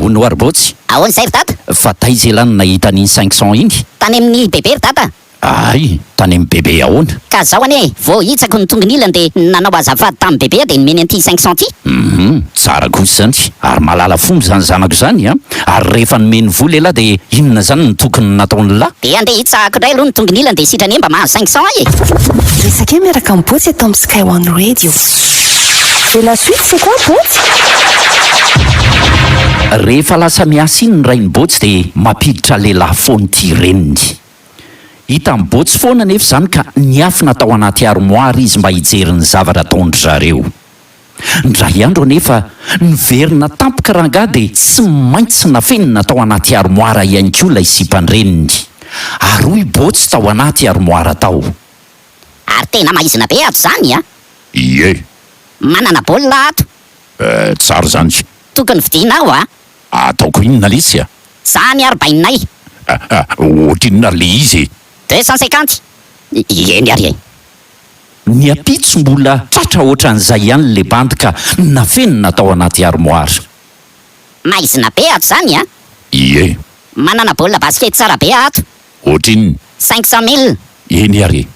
Hono ary Botsy, Ahoana izay ry Dada? fa taiza elah no nahita an'iny cinq cents iny? Tany amin'ny Bebe ry Dada. Ahay tany am bebe ahoana? Ka zao anie vao hitsako ny tongonilany de nanao azafady tam bebea de nomeny an'ity cinq cents ty. Humm tsara kosa izany ary mahalala fomba izany zanako izany a! Ary rehefa nomeny vola elah de inona izany no tokony nataon'lah? De andeha hitsahako indray aloha ny tongonilany de sitrany anie mba mahazo cinq cents ahy e! Resake miaraka amin'i Botsy eto amin'ny Sky One Radio. Et la suite c'est quoi Botsy? Rehefa lasa miasa iny ny rain'i Botsy dia mampiditra lehilahy foana ity reniny. Hita mibotsy foana anefa izany ka niafina tao anaty armoara izy mba hijery ny zavatra ataon-dry zareo. Indray andro anefa, niverina tampoka rangahy dia tsy maintsy nafenina tao anaty armoara ihany koa ilay sipan-dreniny. Ary hoy Botsy tao anaty armoara tao. Ary tena maizina be ato izany a! Ie! Manana baolina ato! Eh, tsara izany! Tokony vidiana aho a! Ataoko inona lesy a! Zany ary bainay! Ohatrinona ary le izy e! Deux cent cinquante? Eny ary e! Ny ampitso mbola tratra ohatran'izay ihany le bandy ka nafenina tao anaty armoire. Maizina be ato zany a! Ie! Manana baolina basket tsara be ato! Ohatrinona? Cinq cent mille! Eny ary e!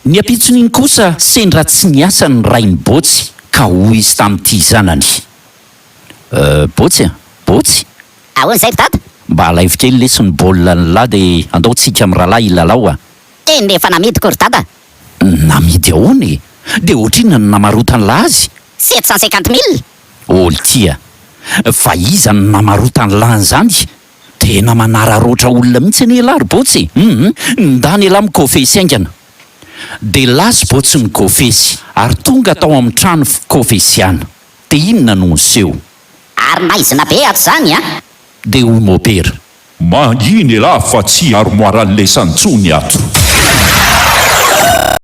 Ny ampitson'iny kosa sendra tsy niasa ny rain'i Botsy ka hoy izy tamin'ity zanany. Euh Botsy a! Botsy! Ahoana izay ry dada? Mba alaivo kely lesy ny baolina ny lahy dia andao tsika amin'ny rahalahy hilalao a! Teny dia efa namidiko ry dada! Namidy ahoana e? Dia ohatrinona no namarotan'lah azy? Sept cent cinquante mille! Ol ty a! Fa iza no namarotan'lah an'izany? Tena manararaotra olona mihitsy anie elah ry Botsy e! Hum! Ndany elah mikofesy haingana! Dia lasa i Botsy nikofesy ary tonga tao amin'ny trano fikofesiana. Dia inona no niseho? Ary maizina be ato izany an! Dia hoy mopera. Mangina elah fa tsy armoire à laisse intsony ato.